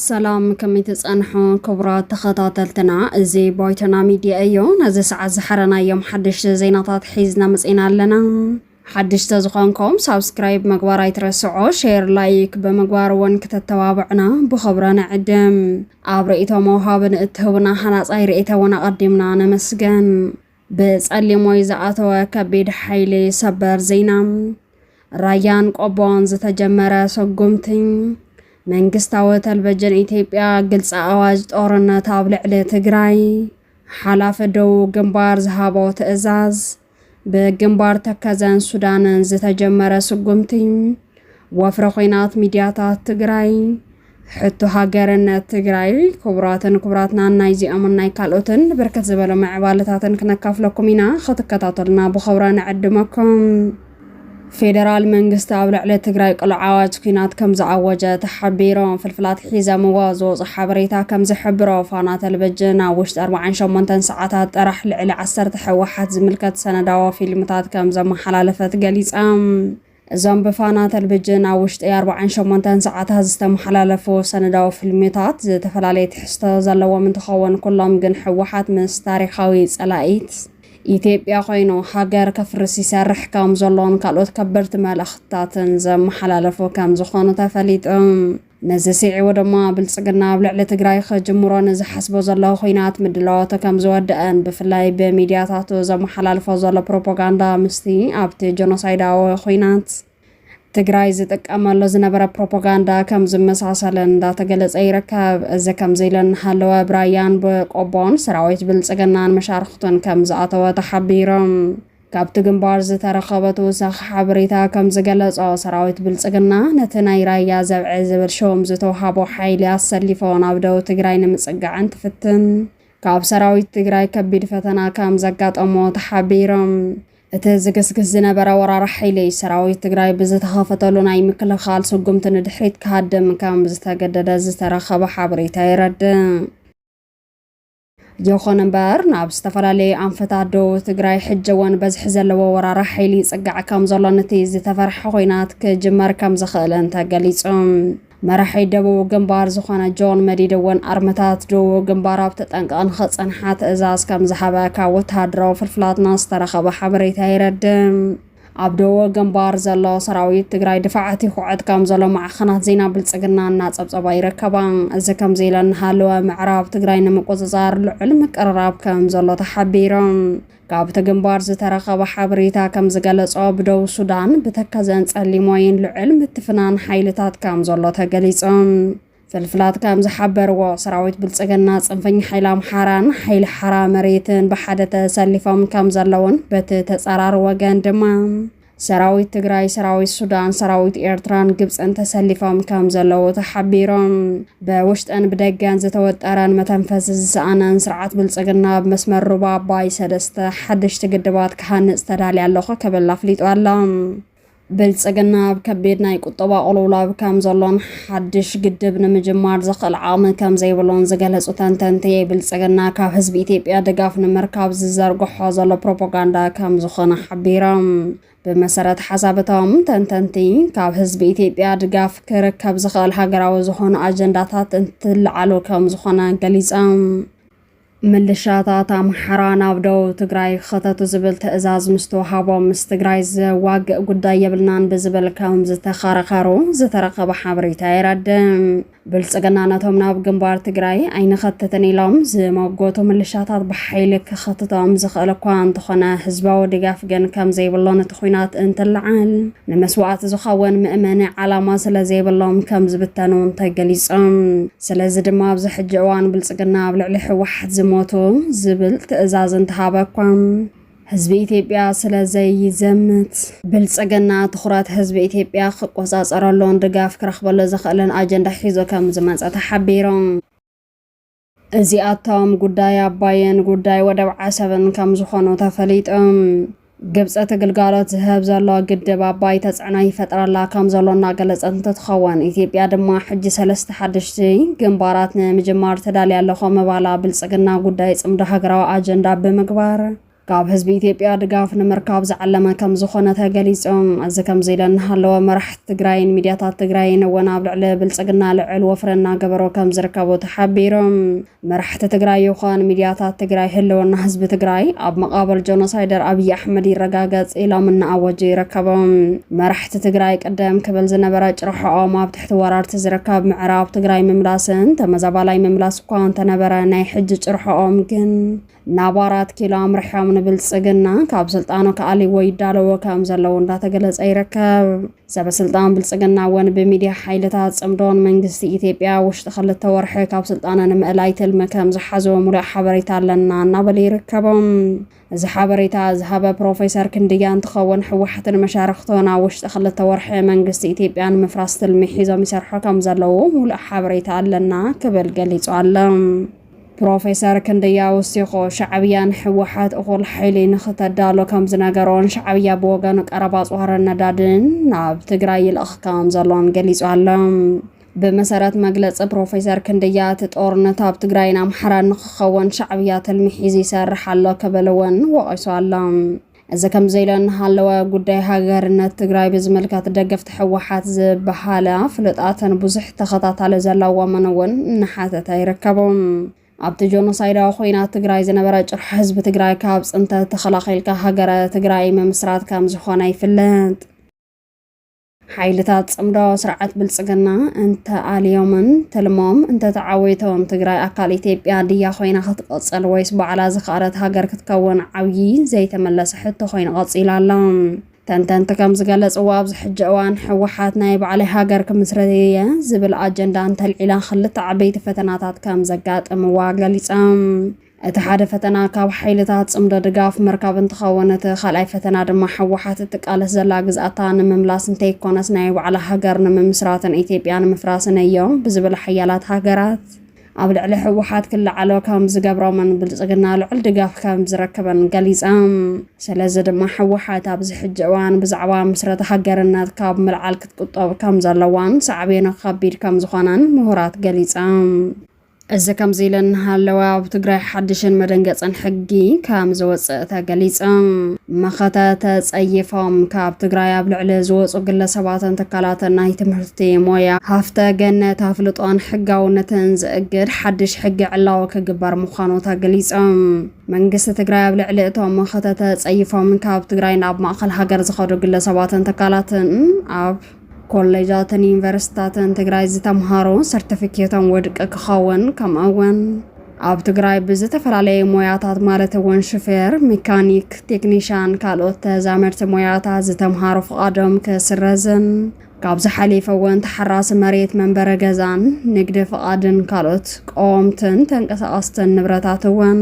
ሰላም ከመይ ትጸንሑ ክቡራት ተኸታተልትና፣ እዚ ባይቶና ሚድያ እዩ። ነዚ ሰዓት ዝሓረናዮም ሓደሽቲ ዜናታት ሒዝና መጺና ኣለና። ሓድሽ ተዝኾንኩም ሳብስክራይብ ምግባር ኣይትረስዑ ሼር ላይክ ብምግባር እውን ክተተባብዑና ብኽብረ ንዕድም ኣብ ርእቶ መውሃብን እትህቡና ሃናፃይ ርእተ እውን ኣቐዲምና ነመስገን ብፀሊም ወይ ዝኣተወ ከቢድ ሓይሊ ሰበር ዜና ራያን ቆቦን ዝተጀመረ ሰጉምቲ መንግስታዊ ተልቨጅን ኢትዮጵያ ግልፂ ኣዋጅ ጦርነት ኣብ ልዕሊ ትግራይ ሓላፊ ደቡብ ግንባር ዝሃቦ ትእዛዝ ብግንባር ተከዘን ሱዳንን ዝተጀመረ ስጉምቲ ወፍሪ ኹናት ሚድያታት ትግራይ ሕቶ ሃገርነት ትግራይ ክቡራትን ክቡራትናን ናይዚኦምን ናይ ካልኦትን ብርክት ዝበሉ ምዕባለታትን ክነካፍለኩም ኢና ክትከታተሉና ብኸብረ ንዕድመኩም ፌደራል መንግስቲ ኣብ ልዕሊ ትግራይ ቅሉዕ ኣዋጅ ኲናት ከም ዝኣወጀ ተሓቢሩ። ፍልፍላት ሒዘምዎ ዝወጹ ሓበሬታ ከም ዝሕብሮ፣ ፋና ተለቪጅን ኣብ ውሽጢ ኣርብዓን ሸሞንተን ሰዓታት ጥራሕ ልዕሊ ዓሰርተ ህወሓት ዝምልከት ሰነዳዊ ፊልምታት ከም ዘመሓላለፈት ገሊጻ። እዞም ብፋና ተለቪጅን ኣብ ውሽጢ ኣርብዓን ሸሞንተን ሰዓታት ዝተመሓላለፉ ሰነዳዊ ፊልምታት ዝተፈላለየ ትሕዝቶ ዘለዎም እንትኸውን፣ ኩሎም ግን ህወሓት ምስ ታሪኻዊ ጸላኢት ኢትዮጵያ ኮይኑ ሃገር ከፍርስ ይሰርሕ ከም ዘሎን ካልኦት ከበድቲ መልእኽትታትን ዘመሓላለፉ ከም ዝኾኑ ተፈሊጡ። ነዚ ስዒቡ ድማ ብልጽግና ኣብ ልዕሊ ትግራይ ከጅምሮ ንዝሓስቦ ዘሎ ኹናት ምድላዋቱ ከም ዝወደአን ብፍላይ ብሚድያታቱ ዘመሓላልፎ ዘሎ ፕሮፓጋንዳ ምስቲ ኣብቲ ጆኖሳይዳዊ ኹናት ትግራይ ዝጥቀመሉ ዝነበረ ፕሮፓጋንዳ ከም ዝመሳሰለ እንዳተገለጸ ይርከብ። እዚ ከምዚ ኢሉ እናሃለወ ብራያን ብቆቦን ሰራዊት ብልጽግናን መሻርኽቱን ከም ዝኣተወ ተሓቢሩ። ካብቲ ግንባር ዝተረኸበ ተወሳኺ ሓበሬታ ከም ዝገለጾ ሰራዊት ብልጽግና ነቲ ናይ ራያ ዘብዐ ዝብል ሹም ዝተውሃቦ ሓይሊ ኣሰሊፎ ናብ ደቡብ ትግራይ ንምጽጋዕ እንትፍትን ካብ ሰራዊት ትግራይ ከቢድ ፈተና ከም ዘጋጠሞ ተሓቢሮም። እቲ ዝግስግስ ዝነበረ ወራር ሓይሊ ሰራዊት ትግራይ ብዝተኸፈተሉ ናይ ምክልኻል ስጉምቲ ንድሕሪት ክሃድም ከም ዝተገደደ ዝተረኸበ ሓበሬታ የረድእ። ይኹን እምበር ናብ ዝተፈላለዩ ኣንፈታት ደቡብ ትግራይ ሕጂ እውን በዝሒ ዘለዎ ወራራ ሓይሊ ይፅጋዕ ከም ዘሎን እቲ ዝተፈርሐ ኮይናት ክጅመር ከም ዝኽእልን ተገሊፁ። መራሒ ደቡብ ግንባር ዝኾነ ጆን መዲድ እውን ኣርመታት ደቡብ ግንባር ኣብ ተጠንቀቕ ንኸፀንሓ ትእዛዝ ከም ዝሃበ ካብ ወተሃደራዊ ፍልፍላትና ዝተረኸበ ሓበሬታ የረድም። ኣብ ደቡብ ግንባር ዘሎ ሰራዊት ትግራይ ድፋዓት ይኹዕት ከም ዘሎ ማዕኸናት ዜና ብልፅግና እናፀብፀባ ይርከባ። እዚ ከምዚ ኢለ እናሃለወ ምዕራብ ትግራይ ንምቁፅፃር ልዑል ምቅርራብ ከም ዘሎ ተሓቢሮም። ካብ'ቲ ግንባር ዝተረኸበ ሓበሬታ ከምዝገለጾ፣ ብደቡብ ሱዳን ብተከዘን ጸሊሞይን ልዑል ምትፍናን ሓይልታት ከምዘሎ ተገሊጹ። ፍልፍላት ከምዝሓበርዎ፣ ሰራዊት ብልጽግና፣ ጽንፈኛ ሓይሊ ኣምሓራን ሓይሊ ሓራ መሬትን ብሓደ ተሰሊፎም ከምዘለዉን በቲ ተጻራሪ ወገን ድማ ሰራዊት ትግራይ፣ ሰራዊት ሱዳን፣ ሰራዊት ኤርትራን ግብፅን ተሰሊፎም ከም ዘለዉ ተሓቢሮም በውሽጠን ብደገን ዝተወጠረን መተንፈሲ ዝሰኣነን ስርዓት ብልፅግና ኣብ መስመር ሩባ ኣባይ ሰለስተ ሓደሽቲ ግድባት ክሃንፅ ተዳልያ ኣለኹ ክብል ኣፍሊጡ ኣሎ። ብልፅግና ኣብ ከቢድ ናይ ቁጠባ ቁልውላብ ከም ዘሎን ሓድሽ ግድብ ንምጅማር ዘኽእል ዓቕሚ ከምዘይብሉን ዝገለፁ ተንተንቲ፣ ብልፅግና ካብ ህዝቢ ኢትዮጵያ ድጋፍ ንምርካብ ዝዘርግሖ ዘሎ ፕሮፓጋንዳ ከምዝኾነ ሓቢሮም። ብመሰረት ሓሳብ እቶም ተንተንቲ፣ ካብ ህዝቢ ኢትዮጵያ ድጋፍ ክርከብ ዝኽእል ሃገራዊ ዝኾኑ ኣጀንዳታት እንትለዓሉ ከምዝኾነ ገሊፆም። ምልሻታት ኣምሓራ ናብ ደቡብ ትግራይ ክኸተቱ ዝብል ትእዛዝ ምስ ተዋሃቦም ምስ ትግራይ ዘዋግእ ጉዳይ የብልናን ብዝብል ከም ዝተኸራኸሩ ዝተረኸበ ሓበሬታ የረድእ። ብልፅግና ነቶም ናብ ግንባር ትግራይ ኣይንኸትትን ኢሎም ዝመጎቱ ምልሻታት ብሓይሊ ክኸትቶም ዝኽእል እኳ እንተኾነ ህዝባዊ ድጋፍ ግን ከም ዘይብሎን እቲ ኩናት እንትለዓል ንመስዋእቲ ዝኸውን ምእመኒ ዓላማ ስለ ዘይብሎም ከም ዝብተኑ ተገሊፆም። ስለዚ ድማ ኣብዚ ሕጂ እዋን ብልጽግና ኣብ ልዕሊ ህወሓት ዝሞቱ ዝብል ትእዛዝ እንተሃበ እኳ ህዝቢ ኢትዮጵያ ስለ ዘይዘምት ብልጽግና ትኹረት ህዝቢ ኢትዮጵያ ክቆጻጸረሉን ድጋፍ ክረኽበሉ ዝኽእልን ኣጀንዳ ሒዞ ከም ዝመጸ ተሓቢሮም። እዚኣቶም ጉዳይ ኣባይን ጉዳይ ወደብ ዓሰብን ከም ዝኾኑ ተፈሊጦም። ግብፂ እቲ ግልጋሎት ዝህብ ዘሎ ግድብ ኣባይ ተፅዕኖ ይፈጥረላ ከም ዘሎ እናገለፀት እንትትኸውን ኢትዮጵያ ድማ ሕጂ ሰለስተ ሓደሽቲ ግንባራት ንምጅማር ተዳልያ ኣለኹ ምባላ ብልፅግና ጉዳይ ፅምዶ ሃገራዊ ኣጀንዳ ብምግባር ካብ ህዝቢ ኢትዮጵያ ድጋፍ ንምርካብ ዝዓለመ ከም ዝኾነ ተገሊጹ። እዚ ከምዚ ኢለ እናሃለወ መራሕቲ ትግራይን ሚድያታት ትግራይን እውን ኣብ ልዕሊ ብልጽግና ልዑል ወፍሪ እናገበሩ ከም ዝርከቡ ተሓቢሮም። መራሕቲ ትግራይ ይዃን ሚድያታት ትግራይ ህልወና ህዝቢ ትግራይ ኣብ መቓብር ጆኖሳይደር ኣብይ ኣሕመድ ይረጋገጽ ኢሎም እናኣወጁ ይርከቡ። መራሕቲ ትግራይ ቅደም ክብል ዝነበረ ጭርሖኦም ኣብ ትሕቲ ወራርቲ ዝርከብ ምዕራብ ትግራይ ምምላስን ተመዛባላይ ምምላስ እኳ እንተነበረ ናይ ሕጂ ጭርሖኦም ግን ናብ ኣራት ኪሎ ኣምርሖም ንብልፅግና ካብ ስልጣኑ ክኣልይዎ ይዳለዎ ከም ዘለዉ እንዳተገለፀ ይርከብ። ሰበስልጣን ብልፅግና እውን ብሚድያ ሓይልታት ፅምዶን መንግስቲ ኢትዮጵያ ውሽጢ ክልተ ወርሒ ካብ ስልጣነ ንምእላይ ትልሚ ከም ዝሓዘ ሙሉእ ሓበሬታ ኣለና እናበለ ይርከቦም። እዚ ሓበሬታ ዝሃበ ፕሮፌሰር ክንድያ እንትኸውን ሕወሓትን መሻርኽቶን ኣብ ውሽጢ ክልተ ወርሒ መንግስቲ ኢትዮጵያ ንምፍራስ ትልሚ ሒዞም ይሰርሑ ከም ዘለዉ ሙሉእ ሓበሬታ ኣለና ክብል ገሊፁ ኣሎ። ፕሮፌሰር ክንደያ ወሲኹ፣ ሻዕብያ ንህወሓት እኹል ሓይሊ ንኽተዳሉ ከም ዝነገሮን ሻዕብያ ብወገኑ ቀረብ ኣፅዋርን ነዳድን ናብ ትግራይ ይልእኽ ከም ዘሎን ገሊፁ ኣሎ። ብመሰረት መግለፂ ፕሮፌሰር ክንደያ እቲ ጦርነት ኣብ ትግራይን ኣምሓራን ንኽኸውን ሻዕብያ ትልሚ ሒዙ ይሰርሕ ኣሎ ክብል እውን ወቒሱ ኣሎ። እዚ ከምዚ ኢለ እናሃለወ ጉዳይ ሃገርነት ትግራይ ብዝምልከት ደገፍቲ ሕወሓት ዝበሃላ ፍሉጣትን ብዙሕ ተኸታታሊ ዘለዎምን እውን እናሓተተ ይርከቡ ኣብቲ ጆኖሳይዳዊ ኮይናት ትግራይ ዝነበረ ጭርሖ ህዝቢ ትግራይ ካብ ፅንተት ተኸላኺልካ ሃገረ ትግራይ ምምስራት ከም ዝኾነ ይፍለጥ ሓይልታት ፅምዶ ስርዓት ብልፅግና እንተኣልዮምን ትልሞም እንተተዓወይቶም ትግራይ ኣካል ኢትዮጵያ ድያ ኮይና ክትቐፅል ወይስ ባዕላ ዝኸኣለት ሃገር ክትከውን ዓብዪ ዘይተመለሰ ሕቶ ኮይኑ ቀፂሉ ኣሎ። ተንተንቲ ከም ዝገለፅዎ ኣብዚ ሕጂ እዋን ህወሓት ናይ ባዕለይ ሃገር ክምስረት እየ ዝብል ኣጀንዳ እንተልዒላ ክልተ ዓበይቲ ፈተናታት ከም ዘጋጥምዋ ገሊፆም። እቲ ሓደ ፈተና ካብ ሓይልታት ጽምዶ ድጋፍ ምርካብ እንትኸውን እቲ ካልኣይ ፈተና ድማ ሕወሓት እትቃለስ ዘላ ግዝኣታ ንምምላስ እንተይኮነስ ናይ ባዕላ ሃገር ንምምስራትን ኢትዮጵያ ንምፍራስን እዮ ብዝብል ሓያላት ሃገራት ኣብ ልዕሊ ሕወሓት ክለዓሎ ከም ዝገብሮምን ብልጽግና ልዑል ድጋፍ ከም ዝረክብን ገሊጸም። ስለዚ ድማ ሕወሓት ኣብዚ ሕጂ እዋን ብዛዕባ ምስረታ ሃገርነት ካብ ምልዓል ክትቁጠብ ከም ዘለዋን ሳዕቤኑ ከቢድ ከም ዝኾነን ምሁራት ገሊጸም። እዚ ከምዚ ኢለን እናሃለዋ ኣብ ትግራይ ሓድሽን መደንገፅን ሕጊ ከም ዝወፅእ ተገሊፁ። መኸተ ተፀይፎም ካብ ትግራይ ኣብ ልዕሊ ዝወፁ ግለሰባትን ትካላትን ናይ ትምህርቲ ሞያ፣ ሃፍተ ገነት፣ ኣፍልጦን ሕጋውነትን ዝእግድ ሓድሽ ሕጊ ዕላዊ ክግበር ምዃኑ ተገሊፁ። መንግስቲ ትግራይ ኣብ ልዕሊ እቶም መኸተ ተፀይፎም ካብ ትግራይ ናብ ማእኸል ሃገር ዝኸዱ ግለሰባትን ትካላትን ኣብ ኮሌጃትን ዩኒቨርሲታትን ትግራይ ዝተምሃሩ ሰርቲፊኬቶም ወድቂ ክኸውን ከምኡ እውን ኣብ ትግራይ ብዝተፈላለየ ሞያታት ማለት እውን ሽፌር፣ ሜካኒክ፣ ቴክኒሻን ካልኦት ተዛመድቲ ሞያታት ዝተምሃሩ ፍቓዶም ክስረዝን ካብ ዝሓሊፈ እውን ተሓራሲ መሬት መንበረ ገዛን ንግዲ ፍቓድን ካልኦት ቀወምትን ተንቀሳቐስትን ንብረታት እውን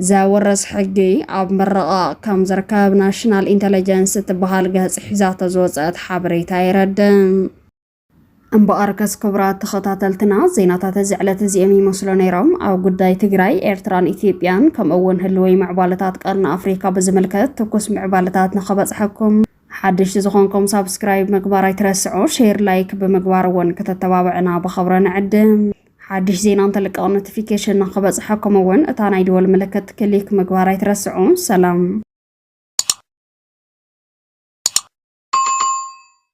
ዘውርስ ሕጊ ኣብ ምርቓቕ ከም ዝርከብ ናሽናል ኢንተለጀንስ እትበሃል ገጽ ሒዛቶ ዝወጸት ሓበሬታ የረድእ። እምበኣርከስ ክቡራት ተኸታተልትና ዜናታት እዚ ዕለት እዚኦም ይመስሉ ነይሮም። ኣብ ጉዳይ ትግራይ፣ ኤርትራን ኢትዮጵያን ከምኡ እውን ህልወይ ምዕባለታት ቀርኒ ኣፍሪካ ብዝምልከት ትኩስ ምዕባለታት ንኸበጽሐኩም ሓድሽቲ ዝኾንኩም ሳብስክራይብ ምግባር ኣይትረስዑ፣ ሼር ላይክ ብምግባር እውን ከተተባብዕና ብኸብረ ንዕድም። ሓድሽ ዜና እንተልቀቕ ኖቲፊኬሽን ንክበፅሐኩም እውን እታ ናይ ደወል ምልክት ክሊክ ምግባር ኣይትረስዑ። ሰላም